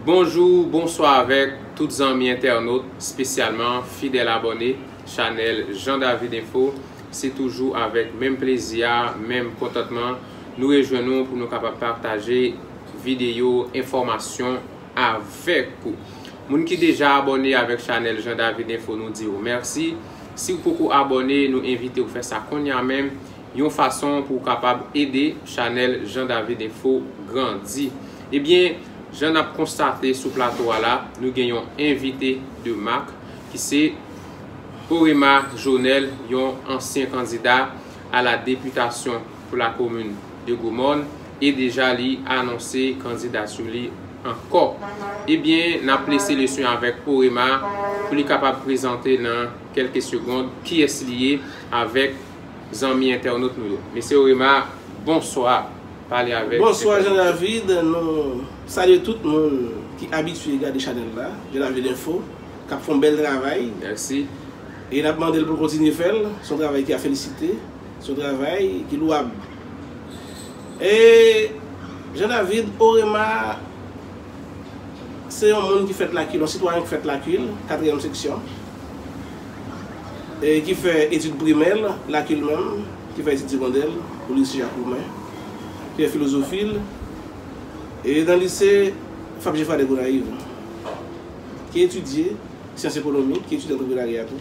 Bonjou, bonswa avèk tout zanmi entènot, spesyalman fidèl abòne chanèl Jean David Info. Se toujou avèk menm plezi a, menm kontantman nou rejwenn nou pou nou kapab pataje. videyo enfòmasyon avèk ou. Moun ki deja abòne avèk chanèl Jean David Info nou di ou mèsi. Siw poko abòne nou envitew fè sa konnya menm, yon fason pou ou kapab ede chanèl Jean David Info grandi. Ebyen jan nap konstate sou plato a la nou gen yon envite de mak ki se Orema Jonel yon ansyen kandida a la deputasyon. pou la komin de Gwo Mòn e deja li anonse kandidatu li ankò. Ebyen nap lese lesyn avèk Orema pou li kapab prezante nan kelke segond kiyès li ye avèk zanmi entènot nou yo. Mesye Orema bonswa pale avèk entènot yo. Bonswa Jean David, nou salye tout moun ki abitye gade chanèl la, Jean David Info, kap fon bèl travay. Mèsi. E nap mandel pou l kontinye fèl, son travay ki a felisite. Se yon travay ki louab. E Jean David Orema se yon moun ki fèt Lakil, yon sitwayen ki fèt Lakil, katriyèm seksyon, e ki fè etid primè l Lakil menm, ki fè etid segondè l o lise Jak Roumen, ki fè filozofi l e nan lise Fab Jefra dè Gonayiv, ki etidye syans ekonomi, ki etidye antreprenarya tou.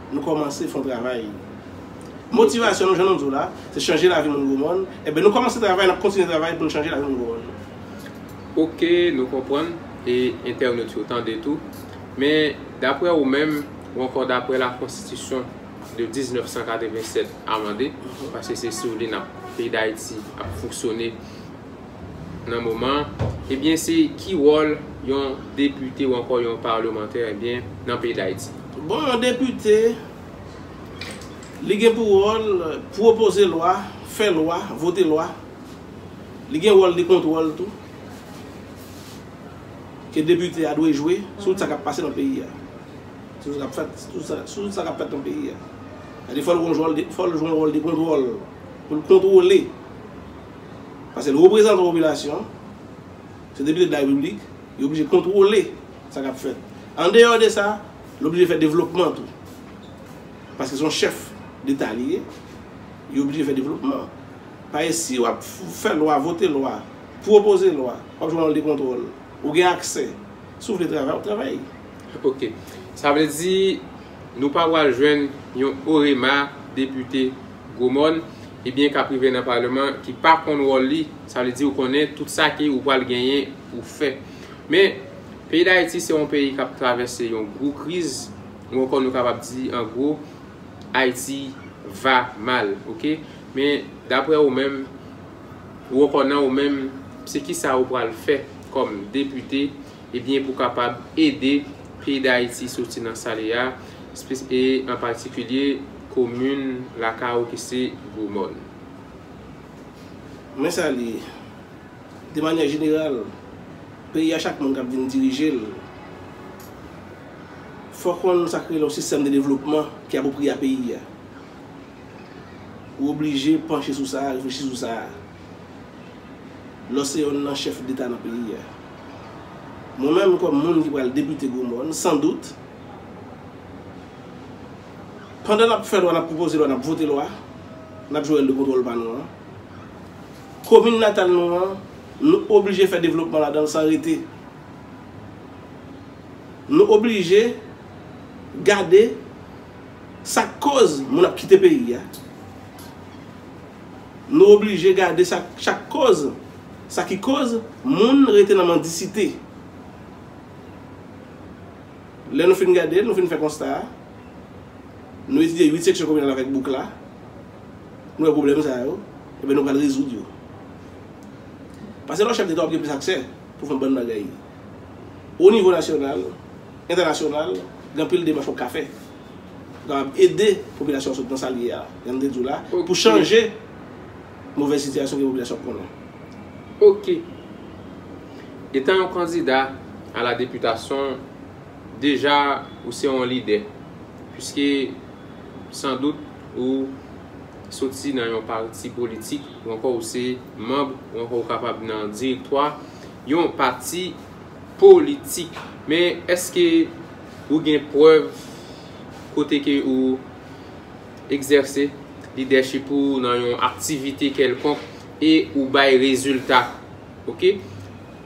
Nou kòmanse fon travay. Motivasyon nou jan nou di w la, se chanje lavi moun gwo mòn, enben nou kòmanse travay nap kontinye travay poun chanje lavi moun gwo mòn. Ok nou konprann e entènot yo tande tou, men daprè ou menm ou ankò daprè la konstitisyon de 1987 amande, paske se sou li nap peyi dayiti ap fonksyone, nan moman an ebyen se ki wòl yon depite ou ankò yon palemantè ebyen nan peyi dayiti. Bon yon depite li gen pou wòl pwopoze lwa, fè lwa, vote lwa, li gen wòl de kontwòl tou ke depite a dwe jwe sou tout sa kap pase nan peyi a, sou tout sa kap fèt nan peyi a, sa vle di fòl jwe yon wòl de kontwòl poul kontwole. Pase l reprezantan popilasyon an, se depite de la repiblik, li oblije kontwole sa k ap fèt. Andeyò de sa, li oblije fè devlopman tou. Pase se yon chèf deta li ye, li oblije fè devlopman. Pase si w ap fè lwa, vote lwa, pwopoze lwa, w ap jwe wòl de kontwòl, ou gen aksè. Si w vle travay, w ap travay. Ok. Sa vle di nou pa pral jwenn yon OREMA depite. gwo mòn, ebyen kap rive nan paleman ki pa konn wòl li, sa vle di ou konnen tout sa ki ou pral genyen ou fè. Men, peyi Dayiti se yon peyi kap travèse yon gwo kriz, ou ankò nou kapab di an gwo, Ayiti va mal, ok. Men, daprè ou menm, ou ankò nan ou menm, se kisa ou pral fè kòm depite Ebyen pou kapab ede peyi dayiti soti nan sa li ya e an patikilye komin lakay ou ki se gwo mòn. Men sa li ye, de manyè jeneral, peyi ya chak moun kap vin dirije l fò konn sa ki rele yon sistèm de devlopman ki apwopriye a peyi ya. Ou oblije panche sou sa, reflechi sou sa. Lò se yonn nan chèf deta nan peyi a. Mwen menm kòm moun ki pral depite gwo mòn, san dout, pandan n ap fè lwa, n ap pwopoze lwa, n ap vote lwa, n ap jwe wòl de kontwòl pa nou an, komin natal nou an, nou oblije fè devlopman ladan l san rete. Nou oblije gade sa k koz moun ap kite peyi a. Nou oblije gade sa chak koz sa ki koz moun rete nan mandisite. Lè nou fin gade l, nou fin fè konsta a, nou etidye 8 seksyon kominal avèk bouk la, nou wè pwoblèm sa yo, enben nou pral rezoud yo. Pase lè w chèf deta w ap gen plis aksè pou fè bann bagay. O nivo nasyonal, entènasyonal, gen anpil demach w ap ka fè. kapab ede popilasyon an sot nan sa l ye a, jan m te di w la, pou chanje movèz sitiyasyon ke popilasyon ap konnen. Ok. Etan yon kandida a la deputasyon, deja ou se yon lidè, puiske san dout ou soti nan yon pati politik, ou ankò ou se manb, ou ankò ou kapab nan direktwa yon pati, Politik. Men eske ou gen prèv kote ke ou egzèse lidèchip ou nan yon aktivite kèlkonk e ou bay rezilta. Ok.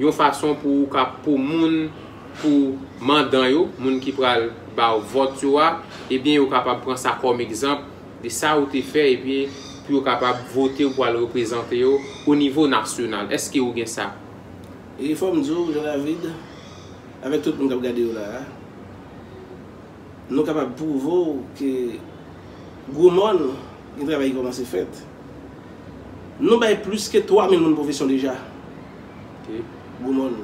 Yon fason pou ou ka pou moun, pou mandan yo, moun ki pral ba ou vòt yo a, ebyen yo kapab pran sa kòm egzanp de sa ou te fè epi pou yo kapab vote ou pou al reprezante yo o nivo nasyonal. Eske ou gen sa? E fòm di w Jean David, avèk tout moun kap gade w la a, nou kapab pwouve w ke gwo mòn gen travay ki kòmanse fèt. Nou bay plis ke 3000 moun pwofesyon deja. Gwo mòn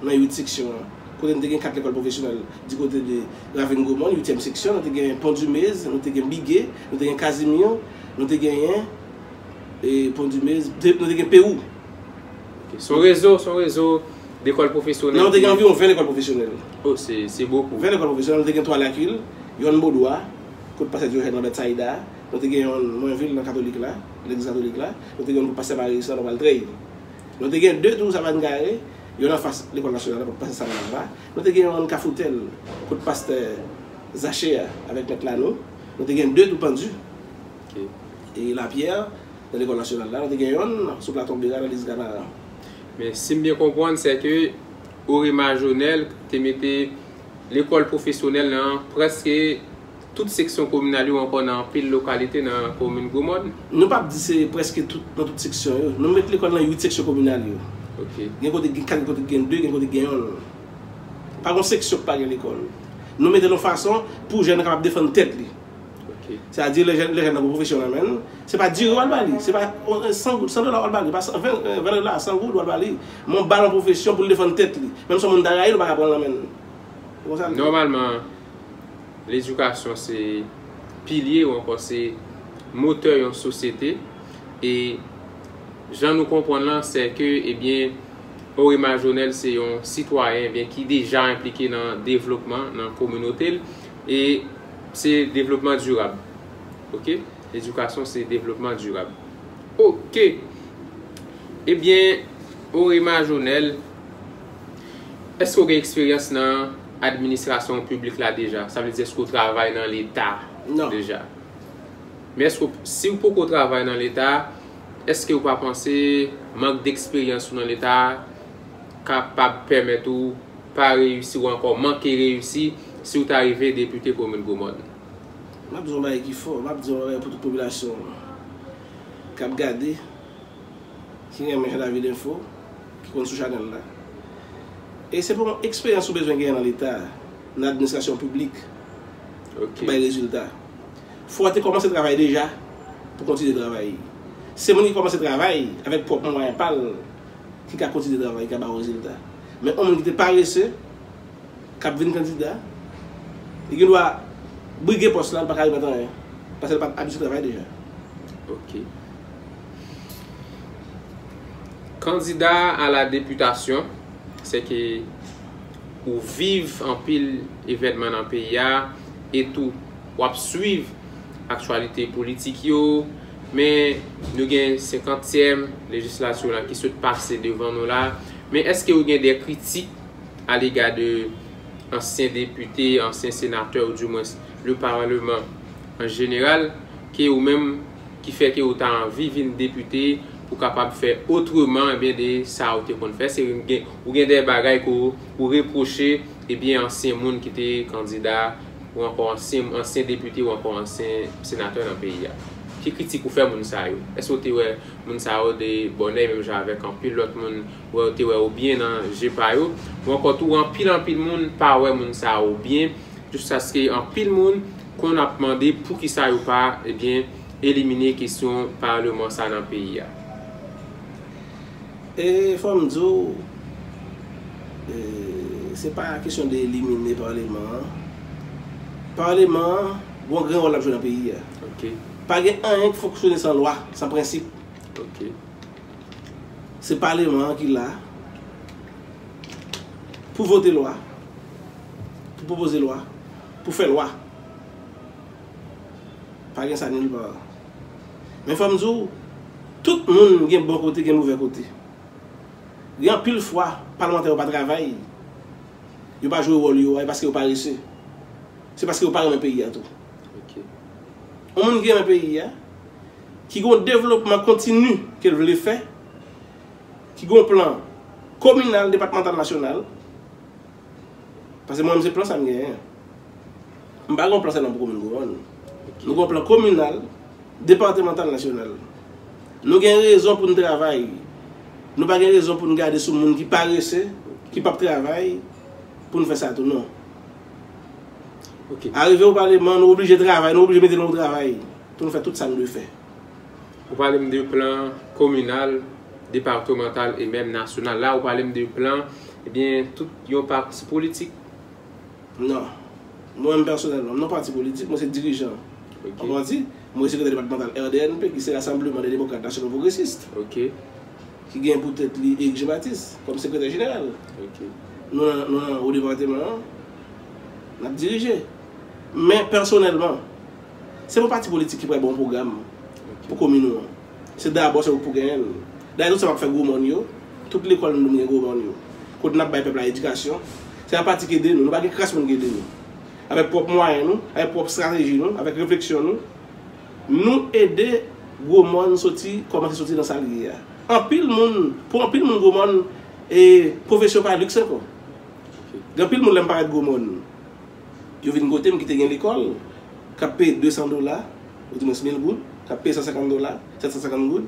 nan 8 seksyon an. Kote nou te gen 4 lekòl pwofesyonèl di kote de Ravin Gwo mòn, 8 tièm seksyon, nou te gen Pon Dumez, nou te gen Bigé, nou te gen Casimir, nou te genyen Pon Dumez, nou te gen Pérou. Ok. Son rezo, son rezo lekòl pwofesyonèl ki. Nan, te gen anviwon 20 lekòl pwofesyonèl. Oh, se, se bokou. 20 lekòl pwofesyonèl. Nou te gen 3 Lakil, yonn Bodwa, kot Pastè Diojèn Lambert Sayida. Nou te gen yonn Mwenvil nan Katolik la, legliz katolik la. Nou te gen yonn kot Pastè Marius la, Nòmal Trèy. Nou te gen 2 tou Savann Kare, yonn anfas lekòl nasyonal la, kot Pastè Savann la. Nou te gen yonn Kafou Tèl, kot Pastè Zache a, avèk Mèt Lanou. Nou te gen 2 tou Pandu. Lapierre, nan lekòl nasyonal la, nou te gen yonn sou Platon Bera nan Lise Ganaran. Men, si m byen konprann, sè ke Orema Jonel te mete lekòl pwofesyonèl nan prèske tout seksyon kominal yo ankò nan anpil lokalite nan komin Gwo Mòn? Nou pap di se prèske tout nan tout seksyon yo. Nou met lekòl nan 8 seksyon kominal yo. Gen kote ki gen 4, gen kote ki gen 2, gen kote ki gen yonn. Pa gen yon seksyon ki pa gen lekòl. Nou mete l yon fason pou jèn nan kapab defann tèt li. Sa di lè jèn nan gen pwofesyon nan men l, se pa diri w al ba li, se pa 100 dola w al ba li, 20 dola, 100 goud w al ba li, men w ba l yon pwofesyon pou l defann tèt li. Menm si yon moun ta rayi l, ou pa ka pran l nan men l. Ou konprann sa m di? Nòmalman, ledikasyon se pilye ou ankò se motè yon sosyete e jan nou konprann lan sè ke ebyen Henri Majonèl se yon sitwayen ebyen ki deja enplike nan devlopman nan kominote l. E se devlopman dirab. Ok. Edikasyon se devlopman dirab. Ok. Ebyen, Orema Jonel, èske ou gen eksperyans nan administrasyon piblik la deja? Sa vle di èske ou travay nan Leta deja? Non. Men èske ou, si ou poko travay nan Leta, èske ou pa panse mank deksperyans ou nan Leta a, kapab pèmèt ou pa reyisi ou ankò manke reyisi si ou ta rive depite komin Gwomòn. M ap di w yon bagay ki fò, m ap di w yon bagay pou tout popilasyon an k ap gade, ki renmen Lavilinfo, ki konn sou chanèl la. E se pa yon eksperyans ou bezwen genyen nan Leta, nan administrasyon piblik pou bay rezilta. Fò w te kòmanse travay deja pou w kontinye travay. Se moun ki kòmanse travay avèk pwòp mwayen pa l. ki ka kontinye travay, ki ka ba yon rezilta. Men yon moun ki te parese, k ap vin kandida, li gen dwa brige pòs la, li pa ka repete anyen, paske li pa t abitye travay deja. Ok. Kandida a la deputasyon, se ke ou viv anpil evènman nan peyi a, e tou w ap swiv aktyalite politik yo, Men nou gen senkantyèm lejislatur la ki sot pase devan nou la, men eske ou gen de kritik a lega de ansyen depite, ansyen senatè ou di mwens le parleman an jeneral ke ou menm ki fè ke ou ta anvi vin depite pou kapab fè otreman ebyen de sa ou te konn fè se ou gen de bagay ke ou reproche ebyen ansyen moun ki te kandida ou ankò ansyen ansyen depite ou ankò ansyen senatè nan peyi a. Ki kritik ou fè moun sa yo? Èske ou te wè moun sa yo de bòn èy menm jan avèk anpil lòt moun wè yo te wè ou byen nan je pa yo? Ou ankò tou anpil anpil moun pa wè moun sa yo byen jiskaske anpil moun konn ap mande poukisa yo pa ebyen elimine kesyon paleman sa nan peyi a. E fòm di w, se pa kesyon de elimine parleman an. Parleman an gon grenn wòl lap jwe nan peyi a. Pa gen anyen ki fonksyone san lwa, san prensip. Se parleman an ki la pou vote lwa, pou pwopoze lwa, pou fè lwa. Pa gen sa nil pa. Men fòm di w, tout moun gen bon kote gen movè kote. Gen anpil fwa palmantè yo pa travay, yo pa jwe wòl yo a e paske yo parese. Se paske yo pa renmen peyi a tou. Yon moun ki renmen peyi a, ki gen yon devlopman kontini ke l vle fè, ki gen yon plan kominal, depatmantal, nasyonal, paske mwen menm se plan sa m genyen. M pa gen yon plan sèlman pou komin Gwo Mòn. Nou gen yon plan kominal, departemantal, nasyonal. Nou gen rezon pou n travay. Nou pa gen rezon pou n gade sou moun ki parese, ki pap travay, pou n fè sa tou non. Arive ou pale man, nou oblije travay, nou oblije mete nou o travay pou n fè tout sa n dwe fè. Ou pale m de plan kominal, departemantal e menm nasyonal. La ou pale m de plan, ebyen tout yon pati politik. Non. Mwen menm pèsonèlman, m nan pati politik, mwen se dirijan yon pati. Mwen sekretè depatmantal RDNP ki se Rasanbleman dè Demokrat Nasyonal Pwogresis, ki gen pou tèt li Erik Jen Batis kòm sekretè jeneral. Nou nan wo depateman an, n ap dirije. Men pèsonèlman, se pa pati politik ki pral ba w pwogram pou komin ou an. Se dabò se ou pou genyen l. Dayè tout sa map fè gwo mòn yo, tout lekòl nou dwe gen gwo mòn yo. Kote nap bay pèp la edikasyon, se apati k ede nou, nou pa gen kras moun k ede nou. Avèk pwòp mwayen nou, avèk pwòp strateji nou, avèk refleksyon nou, nou ede gwo mòn soti kòmanse soti nan sa l ye a. Anpil moun, pou anpil moun gwo mòn e pwofesyon pa liks ankò. Gen anpil moun lè m pale de gwo mòn. Yo vin kote m ki te gen lekòl, k ap peye 200 dola, oudimwens 1000 goud, k ap peye 150 dola, 750 goud,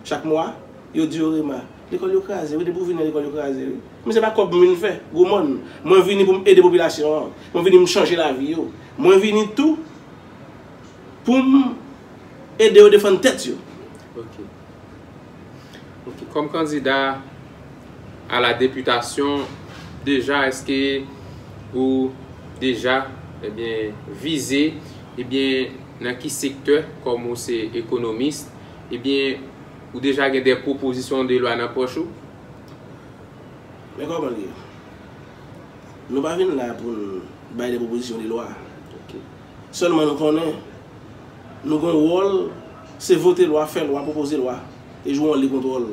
chak mwa. Yo di yo, Rema, lekòl yo kraze wi. Depi ou vini la, lekòl yo kraze wi. Men se pa kòb m vin fè, gwo mòn. Mwen vini pou m ede popilasyon an. Mwen vini m chanje lavi yo. Mwen vini tou pou m ede yo defann tèt yo. Ok kòm kandida a la deputasyon deja eske ou deja ebyen eh vize ebyen eh nan ki sektè kòm ou se ekonomis ebyen eh ou deja gen de pwopozisyon de lwa nan pòch ou? Men kòman li ye? Nou pa vin la pou n bay de pwopozisyon de lwa. Ok. Sèlman nou konnen nou gen yon wòl, se vote lwa, fè lwa, pwopoze lwa e jwe wòl de kontwòl.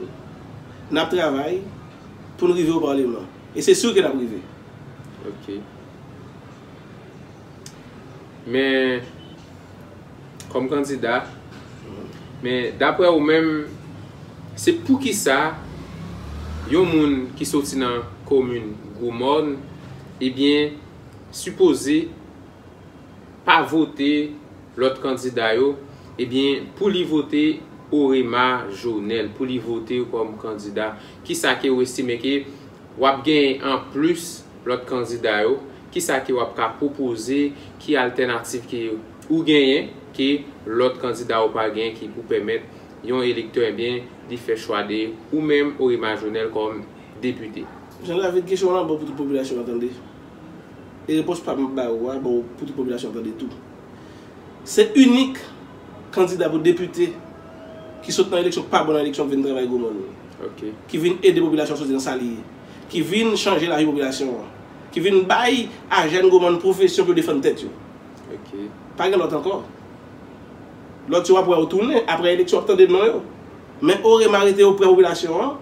N ap travay pou n rive o Paleman e se sur ke n ap rive. Ok. Men, kòm kandida, men daprè ou menm, se pou ki sa yon moun ki soti nan komin Gwo Mòn, ebyen, sipoze pa vote lòt kandida yo ebyen pou li vote orema jonel pou li vote yo kòm kandida kisa ke ou estime ke wap genyen an plis lòt kandida yo kisa ke wap ka pwopoze ki altènativ ke ou genyen ke lòt kandida yo pa genyen ki pou pèmèt yon elektè ebyen li fè chwa de ou menm orema jonel kòm depite. Jean David kesyon w lan bon pou tout popilasyon an tande. E repons pam ap ba ou a bon pou tout popilasyon an tande tou. Se inik kandida pou depite ki sot nan eleksyon, pa bon nan eleksyon ki vin travay gwo mòn. Ki vin ede popilasyon an soti nan sa li ye. Ki vin chanje lavi popilasyon an. Ki vin bay a jèn gwo mòn pwofesyon pou yo defann tèt yo. Pa gen lòt ankò. Lòt yo wap wè yo tounen aprè eleksyon wap tande non yo. Men o rema rete oprè popilasyon an,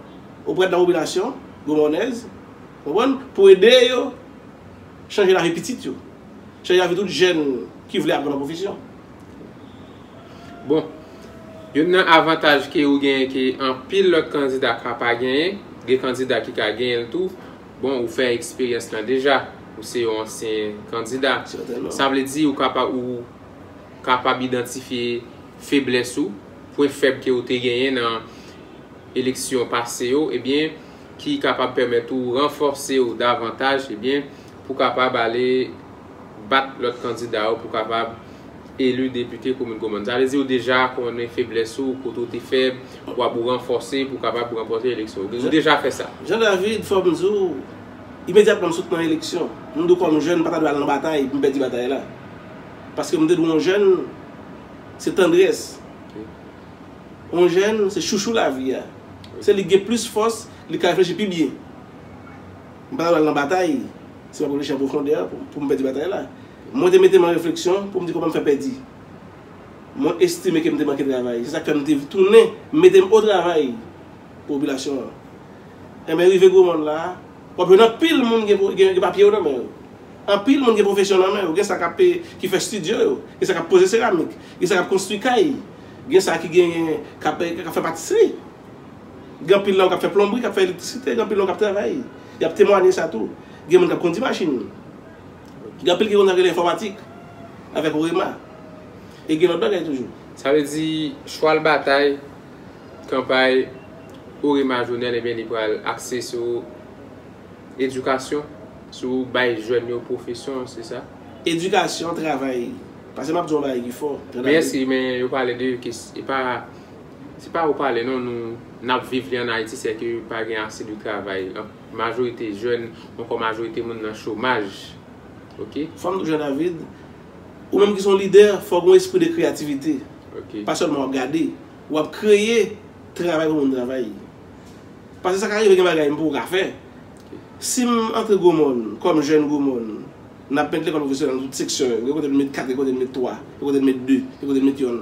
oprè nan popilasyon gwo mònèz. Konprann? Pou ede yo chanje lavi pitit yo. Chanje lavi tout jèn ki vle aprann yon pwofesyon. Bon, youn nan avantaj ke ou genyen ke anpil lòt kandida ka pa genyen, gen kandida ki ka genyen l tou, bon ou fè eksperyans lan deja, ou se yon ansyen kandida. Sètènman. Sa vle di ou kapab idantifye feblès ou, pwen fèb ke ou te genyen nan eleksyon pase yo, ebyen ki kapab pèmèt ou ranfòse ou davantaj ebyen pou kapab ale bat lòt kandida yo pou kapab eli depite komin Gomòn. Sa vle di ou deja konnen feblès ou, kote ou te fèb, ou ap ou ranfòse pou kapab ranpòte eleksyon yo. Ou deja fè sa? Jean David, Fò m di w, imedyatman m sot nan eleksyon, m di w kòm jèn m pa ta dwe al nan batay pou m pèdi batay la. Paske m te di w yon jèn se tandrès, yon jèn se chouchou lavi a. Se li ki gen plis fòs, li ka reflechi pi byen. M pa ta pral nan batay si m ap reflechi an pwofondè pou m pèdi batay la. Mwen te mete m an refleksyon pou m di kòman m fè pèdi. Mwen estime ke m te manke travay. Se sa k fè m te tounen mete m o travay pou popilasyon an. Enben rive gwo moun la a, w ap jwenn anpil moun gen papye yo nan men yo. Anpil moun gen pwofesyon nan men yo. Gen sa k ap ki fè stidyo yo. Gen sa k ap poze seramik. Gen sa k ap konstwi kay. Gen sa ki genyen k ap fè patisri. Gen anpil nan yo k ap fè plonbri, k ap fè elektrisite. Gen anpil nan yo k ap travay. Y ap temwanye sa tou. Gen moun k ap kondi machin. Gen anpil ki konnen sa yo rele enfòmatik avèk OEMA. E gen lòt bagay toujou. Sa vle di, chwal batay kanpay OEMA Jovenel ebyen li pral akse sou edikasyon, sou bay jèn yo pwofesyon, se sa? Edikasyon, travay. Pase map di w yon bagay ki fò. Merci men yo pale de e pa se pa ou pale non nou nap viv li an Ayiti se ke pa gen ase de travay majorite jèn ankò majorite moun nan chomaj ok. Fò nou Jean David ou menm ki son lidè fò gen yon espri de kreyativite pa sèlman wap gade wap kreye travay pou moun travay pase sa ka rive gen bagay m pou ou ka fè si m antre gwo mòn kòm jèn gwo mòn. N ap met lekòl pwofesyonèl nan tout seksyon yo. Gen kote n met 4, gen kote n met 3, gen kote n met 2, gen kote n met yonn.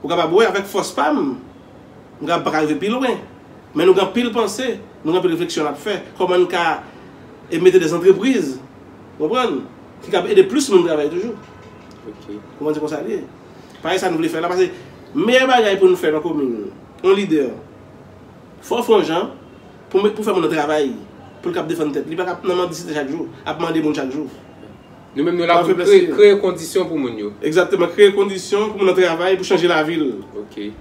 Ou kapab wè avèk fòs pa m, m kapab pa ka rive pi lwen. Men nou gen anpil panse, nou gen anpil refleksyon n ap fè. Kòman n ka mete dè antrepriz, ou konprann, ki kab ede plis moun travay toujou. Ou konprann se konsa l ye. Pale sa nou vle fè la pase meyè bagay pou n fè nan komin, yon lidè, fò w fè yon jan. Pou met pou fè moun nan travay poul kap defann tèt li pa kap nan mandisite chak jou ap mande moun chak jou. Nou menm nou la pou kreye kondisyon pou moun yo. Egzakteman kreye kondisyon pou moun nan travay pou chanje lavil.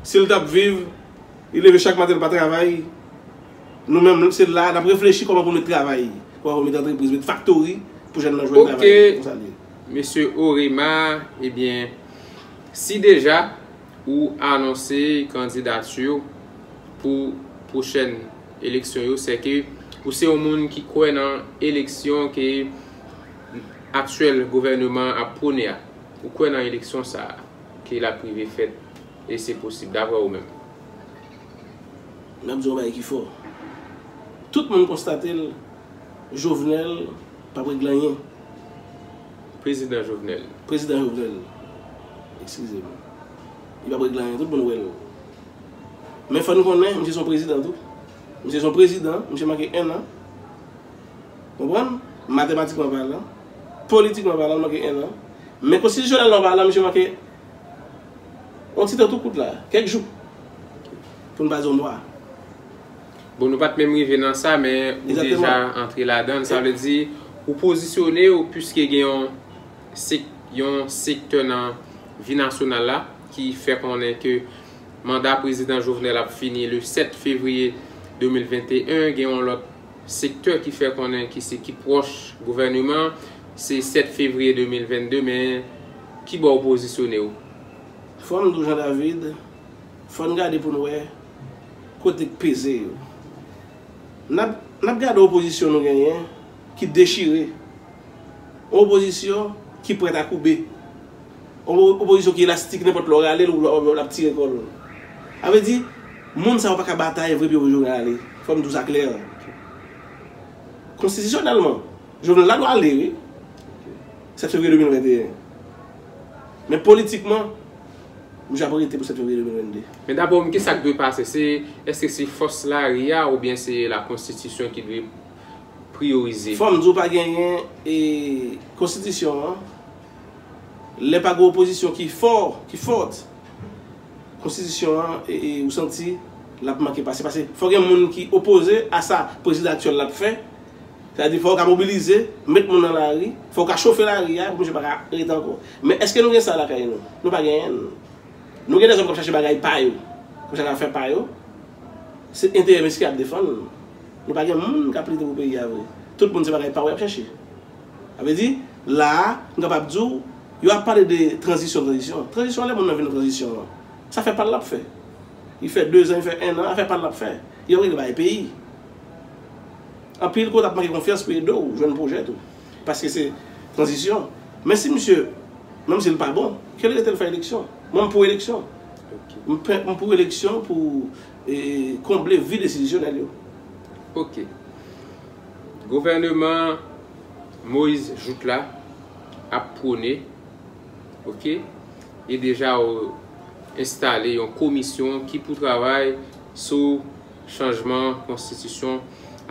Sil tap viv li leve chak maten li pa travay nou menm se la nap reflechi kòman pou met travay kòman pou met antrepriz met faktori pou jèn nan jwenn travay se konsa liye. Mesye Orema ebyen si deja Ou anonse kandidati w pou pwochèn eleksyon yo sè ke ou se yon moun ki kwè nan eleksyon ke aktyèl gouvèneman an ap pwone a. Ou kwè nan eleksyon sa a ke l ap rive fèt e se posib daprè ou menm. M ap di w yon bagay ki fò. Tout moun konstate l Jovenel p ap regle anyen. Prezidan Jovenel. Prezidan Jovenel. Eskize m. Li p ap regle anyen. Tout moun wè l. Men fò nou konnen, misye se yon prezidan tou. Misye se yon prezidan. Misye manke ennan. Konprann? Matematikman palan. Politikman palan, li manke ennan. Men konstitisyonèlman palan, misye manke yon ti tan tou kout la. Kèk jou. Pou n pa di yon mwa. Bon nou pat menm rive nan sa men ou deja antre ladann sa vle di ou pozisyone ou pwiske gen yon yon sektè nan vi nasyonal la ki fè konnen ke manda prezidan Jovenel ap fini le 7 fevriye 2021 gen yon lòt sektè ki fè konnen ki se ki pwòch gouvèneman se 7 fevriye 2022 men kibò ou pozisyone ou? Frè m Doujandavide, fò n gade pou n wè. Kote peze yo. Nap nap gade opozisyon nou genyen ki dechire. Yon opozisyon ki prèt a koube. Yon opozisyon ki elastik nenpòt lè w rale l lap tire kò l. Sa vle di moun sa yo pa ka batay vre pou yo rale. Fò m di w sa klè. Konstitisyonèlman Jovenel la dwa ale wi 7 fevriye 2021 men politikman. Misye ap rete pou 7 fevriye 2022. Men daprè w menm kisak dwe pase? Se eske se fòs lari a oubyen se la konstitisyon ki dwe priyorize? Fòm di w pa genyen e konstitisyon an lè pa gen opozisyon ki fò, ki fòt konstitisyon an e ou santi lap manke pase pase fò gen moun ki opoze a sa prezidan aktyèl la ap fè sa vle di fò ou ka mobilize met moun nan lari fò ou ka chofe lari a pou misye pa ka rete ankò. Men èske nou gen sa lakay nou? Nou pa genyen l. Nou gen dezòm k ap chache bagay pa yo, k ap chache afè pa yo. Se enterè mesye y ap defann. Nou pa gen moun k ap lite pou peyi a vre. Tout moun se bagay pa yo y ap chache. Sa vle di, la a, m kapab di w, yo ap pale de tranzisyon, tranzisyon. Tranzisyon an lè moun nan vin nan tranzisyon an. Sa fè pa l l ap fè. Li fè dezan, li fè ennan, afè pa l l ap fè. Li ap regle bagay peyi. Anpil kote ap manke konfyans pou ede w jwenn pwojè tou. Paske se tranzisyon. Men si misye, menm si l pa bon, ke l rete l fè eleksyon. Mwen m pou eleksyon. M pou eleksyon pou konble vid enstitisyonèl yo. Ok. Gouvèneman Moise Jouthe la ap pwone, ok, e deja enstale yon komisyon ki pou travay sou. Chanjman Konstitisyon,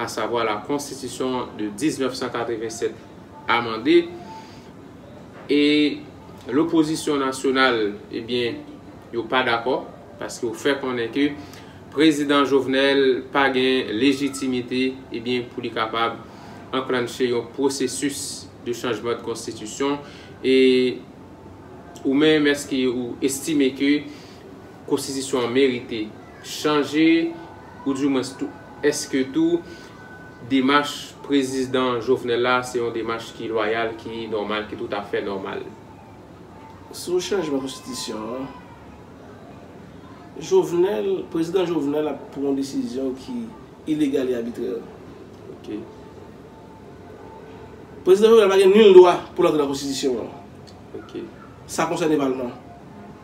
asavwa la Konstitisyon de 1987 amande, e lopozisyon nasyonal ebyen yo pa dakò, paske yo fè konnen ke Prezidan Jovenel pa gen lejitimite ebyen pou li kapab anklanche yon pwosesis de chanjman de konstitisyon, e ou menm èske ou estime ke. Konstitisyon an merite chanje ou di mwens tou eske tou demach Prezisdan Jovenel la se yon demach ki lwayal, ki nòmal, ki toutafè nòmal? Sou chanjman konstitisyon an, Jovenel, Prezidan Jovenel ap pran yon desizyon ki ilegal e abitrè. Ok. Prezidan Jovenel pa gen nil dwa pou l antre nan konstitisyon an. Ok. Sa konsène palman.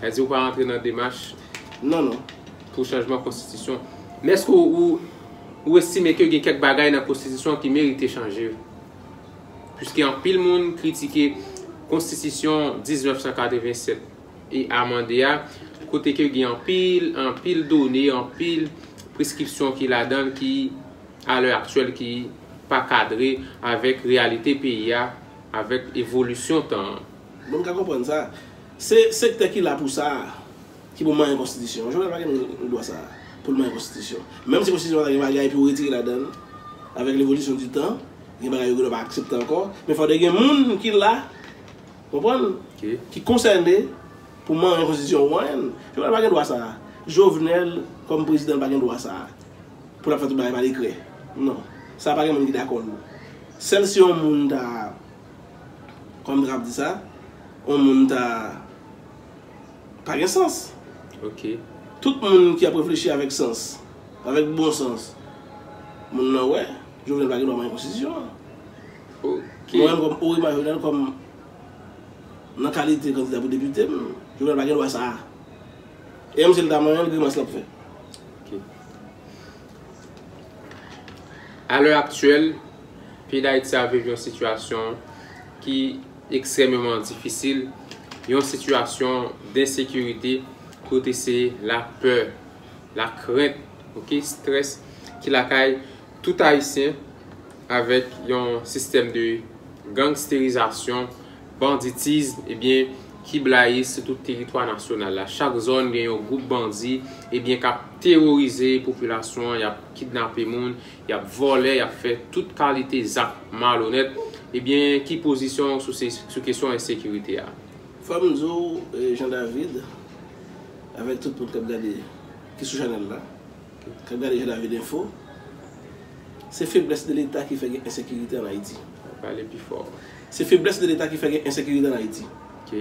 Sa di ou pa antre nan demach. Non, non. Pou chanjman konstitisyon. Men èske ou estime ke gen kèk bagay nan konstitisyon ki merite chanje? Piske anpil moun kritike konstitisyon 1987 e amande a, kote ke gen anpil, anpil done, anpil preskripsyon ki ladann ki a lè aktyèl ki pa kadre avèk reyalite peyi a, avèk evolisyon tan an. Bon m ka konprann sa. Se sektè ki la pou sa a ki pou manyen konstitisyon an. Jovenel pa gen dwa sa a pou l manyen konstitisyon. Menm si konstitisyon an ta gen bagay pou retire ladan l, avèk levolisyon di tan, gen bagay yo genlè pa aksepte ankò, men fòk te gen moun ki la, konprann, ki konsène pou manyen konstitisyon an pou manyen l. Jovenel pa gen dwa sa a. Jovenel kòm prezidan l pa gen dwa sa a pou l ap fè tout bagay pa dekrè. Non. Sa a pa gen moun ki dakò l. Sèl si yon moun ta. Kòm trap di sa on moun ta pa gen sans. Ok. Tout moun ki ap reflechi avèk sans, avèk bon sans, moun nan wè Jovenel pa gen dwa manyen konstitisyon an. Ok. Mwen menm kòm Orima Jovenel kòm nan kalite kandida pou depite m, Jovenel pa gen dwa sa a. E menm si l ta manyen l grimas l ap fè. Ok. A lè aktyèl. Peyi Dayiti ap viv yon sitiyasyon ki ekstrèmeman difisil, yon sitiyasyon densekirite kote se lapè, lakrent, ok, strès ki lakay tout Ayisyen avèk yon sistèm de gangsterizasyon, banditizm, ebyen ki blayi sou tout teritwa nasyonal la. Chak zòn gen yon gwoup bandi ebyen k ap teworize popilasyon an, y ap kidnape moun, y ap vòlè, y ap fè tout kalite zak malonèt, ebyen ki pozisyon w sou kesyon ensekirite a? Fò m di w Jean David, avèk tout moun k ap gade, ki sou chanèl la, k ap gade Jean David Info, se feblès de leta ki fè gen ensekirite an Ayiti. Pale pi fò. Se feblès de leta ki fè gen ensekirite an Ayiti. Ok.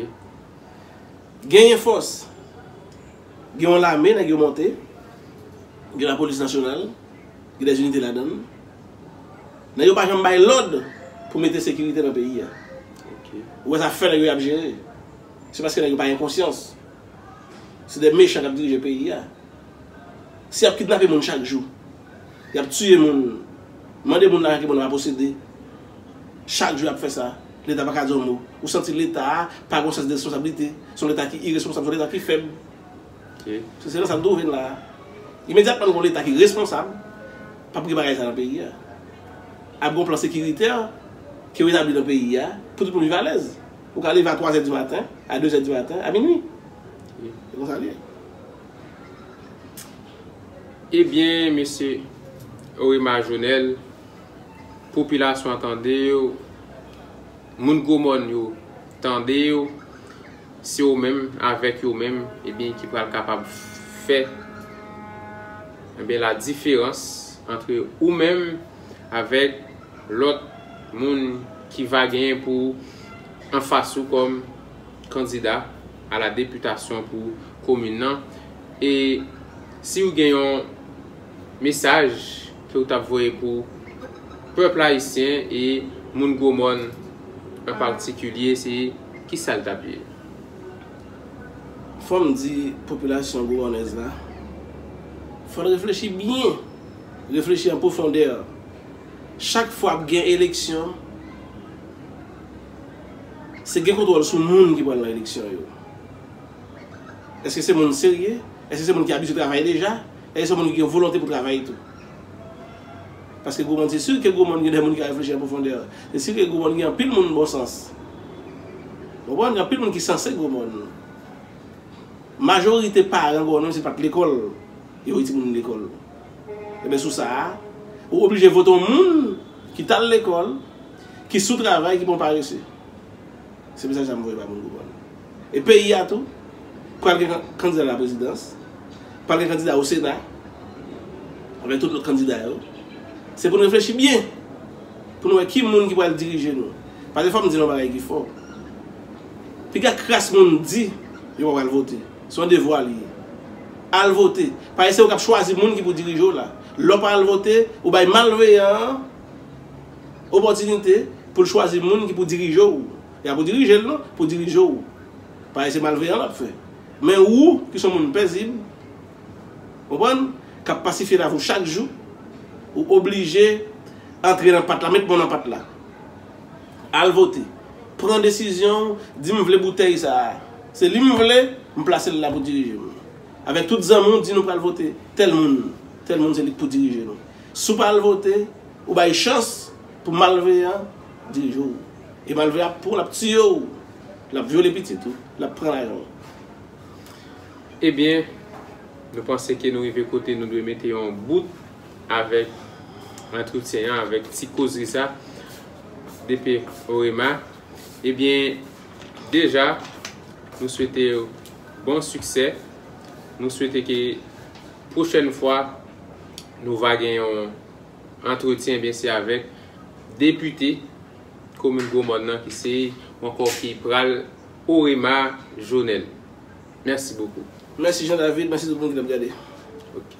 Genyen fòs, gen yon lame nèg yo monte, gen lapolis nasyonal. gen des unités ladann. Nèg yo pa janm bay lòd pou mete sekirite nan peyi a. Ou wè zafè nèg yo yap jere. Se paske nèg yo pa gen konsyans. Se des mechan kap dirije peyi a. Si yap kidnape moun chak jou, yap tiye moun, mande moun lajan ke moun nan pa posede, chak jou yap fè sa, leta paka di yon mo. Ou santi leta a pa gen yon sans de responsablite. Se yon leta ki iresponsab, se yon leta ki fèb. Se se nan sa n twouve n la a. Imedyatman gon Leta ki responsab, p ap gen bagay sa nan peyi a. Ap gon plan sekiritè ki retabli nan peyi a pou tout moun viv alèz. Ou ka leve a twazè di maten, a dezè di maten, a minui. Se konsa l ye. Ebyen mesye Orima Jonel, popilasyon an tande w. Moun gwo mòn yo tande yo, se yo menm, avèk yo menm, ebyen ki pral kapab fè ebyen la diferans antre ou menm avèk lòt moun ki va genyen pou anfas ou kòm kandida a la deputasyon pou komin nan e si ou gen yon Mesaj ke ou tap voye pou pèp ayisyen e moun gwo mòn an patikilye se kisa l tap ye? Fò m di popilasyon gwomònèz la, fò l reflechi byen, reflechi an pwofondè. Chak fwa ap gen eleksyon, se gen kontwòl sou moun ki pral nan eleksyon yo. Eske se moun serye? Eske se moun ki abitye travay deja? E gen sèl moun ki gen volonte pou travay tou. Paske gwo moun se si ke gwo moun gen de moun ki ka reflechi an pwofondè. Se si ke gwo moun gen anpil moun bon sans. Ou konprann? Gen anpil moun ki sanse gwo moun. Majorite paran gwo moun se pat lekòl yo voye ti moun lekòl. Enben sou sa a, ou oblije vote yon moun ki tal lekòl, ki sou travay, ki pa yon parese. Se mesaj sa m voye bay moun gwo moun. E peyi a tou, pral gen kandida laprezidans, pral gen kandida o sena, avèk tout lòt kandida yo. Se pou n reflechi byen, pou nou wè ki moun ki pral dirije nou. Pase fò m di nou yon bagay ki fò. Piga kras moun di yo pa pral vote. Se yon devwa li ye. Al vote. Paske se ou k ap chwazi moun ki pou dirije w la. Lè w pa al vote, ou bay malveyan an opòtinite pou l chwazi moun ki pou dirije w. E a pou dirije l non, pou dirije w. Parèy se malveyan l ap fè. Men ou, ki s on moun pèzib, konprann, k ap pasifye lavi w chak jou, ou oblije antre nan pat la, met bon nan pat la. Al vote. Pran desizyon w, di m vle boutèy sa a. Se li m vle, m plase l la pou dirije m. Avèk tout zanmi w, di nou pral vote tèl moun. Tèl moun se li k pou dirije nou. Si w pa al vote, ou bay chans pou malveyan. Dijo ou. E malve a pranw lap tiye ou. Lap vyole pitit ou. Lap pran lajan ou. Ebyen Nou panse ke Nou rive kote Nou dwe mete yon bout avèk antretyen an avèk ti kozri sa DP Orema ebyen deja Nou swetew bon siksè Nou swete ke pwochèn fwa Nou va gen yon Antretyen ebyen se avèk depite komin gwo mòn nan ki se ou ankò ki pral orema jonel mèsi bokou. Mèsi Jean David, mèsi tout moun ki tap gade. Ok.